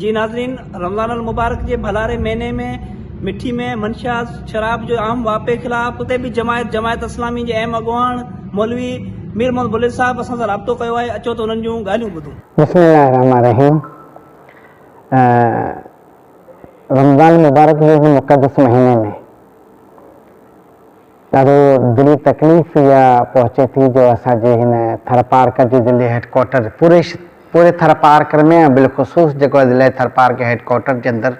جي ناظرين رمضان المبارڪ جي ڀلاري مهيني ۾ مٺي ۾ منشيات شراب جو عام واپي خلاف اتي به جماعت جماعت اسلامي جي اهم اڳواڻ مولوي مير محمد بليل صاحب اسان سان رابطو ڪيو آهي اچو ته انهن جون ڳالهيون ٻڌون. بسم الله الرحمن الرحيم رمضان المبارڪ جي هن مقدس مهيني ۾ ڏاڍو دلي تڪليف اها پهچي ٿي جو اسان جي هن ٿرپارڪر جي ضلعي هيڊ ڪوارٽر پوري پوري ٿرپارڪر ۾ ۽ بالخصوص جيڪو ضلعي ٿرپارڪر هيڊ ڪوارٽر جي اندر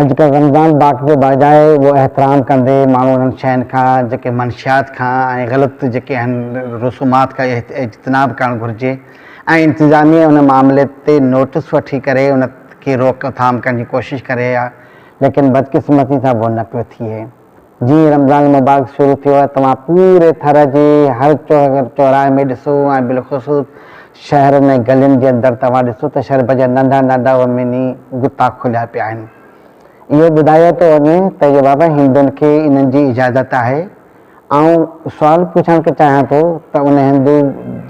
۽ جيڪا رمضان باقي جي بارگاهه آهي اهو احترام ڪندي ماڻهو انهن شين کان جيڪي منشيات کان ۽ غلط جيڪي آهن رسومات کان اجتناب ڪرڻ گهرجي ۽ انتظاميه ان معاملي تي نوٽس وٺي ڪري ان کي روڪ ٿام ڪرڻ جي ڪوشش ڪري ها ليڪن بدقسمتي سان اهو نه پيو ٿئي. جيئن ئي رمضان المبارڪ شروع ٿيو آهي توهان پوري ٿر جي هر چوراهي ۾ ڏسو ۽ بالخصوص شهرن ۽ گلين جي اندر توهان ڏسو ته شربت جا ننڍا ننڍا اهي مني غطا کليا پيا آهن. اهو ٻڌايو ٿو وڃي ته اهي بابا هندن کي انهن جي اجازت آهي. آئون سوال پڇڻ چاهيان ٿو ته ان هندو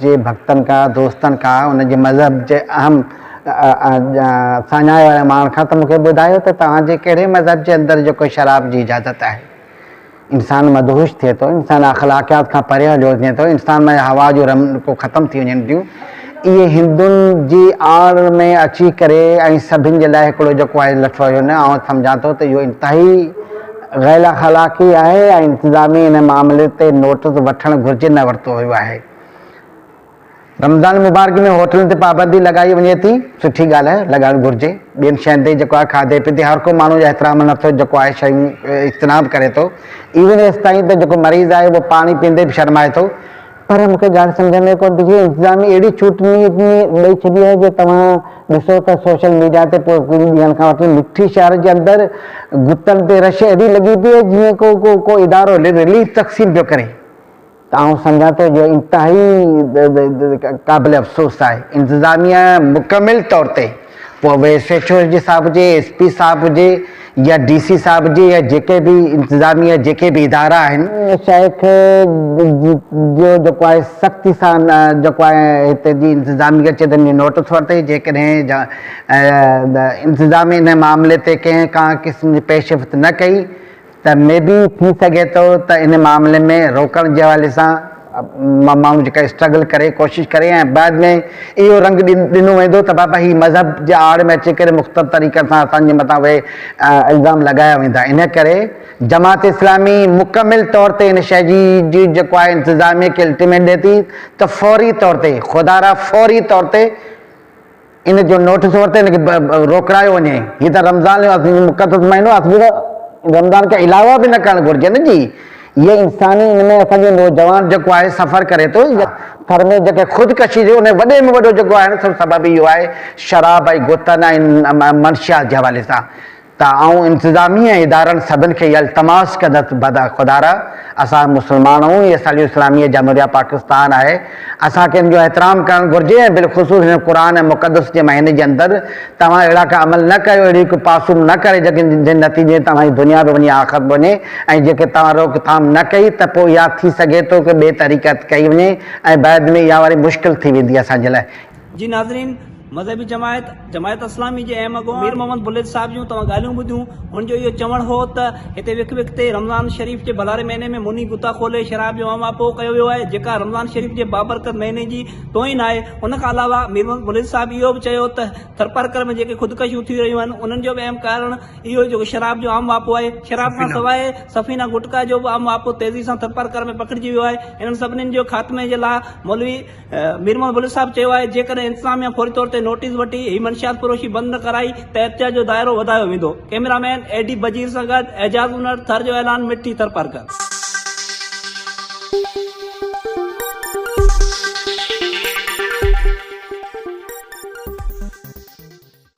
جي ڀڳتن کان دوستن کان ان جي مذهب جي اهم ساڃاهه واري ماڻهن کان ته مون کي ٻڌايو ته توهان جي ڪهڙي مذهب جي اندر جيڪو شراب جي اجازت آهي. انسان مدهوش ٿئي ٿو، انسان اخلاقيات کان پري هليو وڃي ٿو، انسان ۾ هوا جون رمنڪون ختم ٿي وڃن ٿيون. اهي هندن جي آڙ ۾ اچي ڪري ۽ سڀن جي لاء هڪڙو جيڪو آهي لٺو آهي نه آئون سمجهان ٿو ته اهو انتهائي غيراخلاقي آهي ۽ انتظامي ان معاملي تي نوٽس وٺڻ گهرجي نه ورتو ويو آهي. رمضان مبارڪ ۾ هوٽلن تي پابندي لڳائي وڃي ٿي، سٺي ڳالهه آهي، لڳائڻ گهرجي، ٻين شين تي جيڪو آهي کاڌي پيتي هر ڪو ماڻهو احترام نه ٿو جيڪو آهي شيون اجتناب ڪري ٿو، ايون ايستائين ته جيڪو مريض آهي اهو پاڻي پيئندي به شرمائي ٿو، پر مون کي ڳالهه سمجهه ۾ ڪونه ٿي اچي انتظامي اهڙي ڇوٽ ڏئي ڇڏي آهي جو توهان ڏسو ته سوشل ميڊيا تي پوء ڪجهه ڏينهن کان وٺي مٺي شهر جي اندر گتن تي رش اهڙي لڳي پئي آهي جيئن ڪو ڪو ڪو ادارو رليف تقسيم پيو ڪري. ته آئون سمجهان ٿو جو انتهائي قابل افسوس آهي انتظاميا مڪمل طور تي پوء اهي ايس ايڇ او جي صاحب هجي ايس پي صاحب هجي يا ڊي سي صاحب هجي يا جيڪي به انتظامي يا جيڪي به ادارا آهن شيخ جو جيڪو آهي سختي سان جيڪو آهي هتي جي انتظامي کي چيو ته انهي نوٽس ورتي جيڪڏهن انتظامي انهي معاملي تي ڪنهن ڪا قسم جي پيشرفت نه ڪئي ته مي بي ٿي سگهي ٿو ته ان معاملي ۾ روڪڻ جي حوالي سان ماڻهو جيڪا اسٽرگل ڪري ڪوشش ڪري ۽ بعد ۾ اهو رنگ ڏنو ويندو ته بابا هي مذهب جي آڙ ۾ اچي ڪري مختلف طريقن سان اسان جي مٿان اهي الزام لڳايا ويندا ان ڪري جماعت اسلامي مڪمل طور تي ان شيء جي جيڪو آهي انتظاميه کي الٽيميٽ ڏي ٿي ته فوري طور تي خدارا فوري طور تي ان جو نوٽس ورتي ان کي روڪڙايو وڃي هي ته رمضان جو عظيم مقدس مهينو آهي اسين ته رمضان کان علاوه به نه ڪرڻ گهرجي نه جي هي انساني ان ۾ اسان جو نوجوان جيڪو آهي سفر ڪري ٿو يا ٿر ۾ جيڪي خودڪشي جو ان جو وڏي ۾ وڏو جيڪو آهي سبب اهو آهي شراب ۽ گوتن ۽ منشيات جي حوالي سان. ته آئون انتظامي ۽ ادارن سڀن کي اها التماس ڪندس ته خدارا اسان مسلمان آهيون هي اسان جي اسلامي جمهوريه پاڪستان آهي اسان کي ان جو احترام ڪرڻ گهرجي ۽ بالخصوص هن قرآن مقدس جي مهيني جي اندر توهان اهڙا ڪا عمل نه ڪريو اهڙيون ڪي پاسون نه ڪريو جن جي نتيجي توهان جي دنيا به وڃي آخرت به وڃي ۽ جيڪي توهان روڪ ٿام نه ڪئي ته پوء يا ٿي سگهي ٿو ڪي ٻي طريقت ڪئي وڃي ۽ بعد ۾ اها واري مشڪل ٿي ويندي اسان جي لاء جي ناظرين مذهبي جماعت جماعت اسلامي جي اهم اڳواڻ مير محمد بلوچ صاحب جون توهان ڳالهيون ٻڌيون هن جو اهو چوڻ هو ته هتي وک وک تي رمضان شريف جي ڀلاري مهيني ۾ موني غوطا کولي شراب جو اما پو ڪيو ويو آهي جيڪا رمضان شريف جي بابرڪت مهيني جي توهين آهي ان کان علاوه مير محمد بلوچ صاحب اهو به چيو ته ٿرپارڪر ۾ جيڪي خودڪشيون ٿي رهيون آهن انهن جو به اهم ڪارڻ اهو جيڪو شراب جو اما پو آهي شراب کان سواء سفينا گٽڪا جو به اما پو تيزي سان ٿرپارڪر ۾ پکڙجي ويو آهي انهن سڀني جو خاتمي جي لاء مولوي مير محمد بلوچ صاحب چيو آهي جيڪڏهن انتظاميا فوري طور تي نوٽيس وٺي هي منشيات فروشي بند نه ڪرائي ته احتجاج جو دائرو وڌايو ويندو cameraman A D Bajeer سان گڏ اعجاز انڙ ٿر جو اعلان مٺي ٿر پرگهر.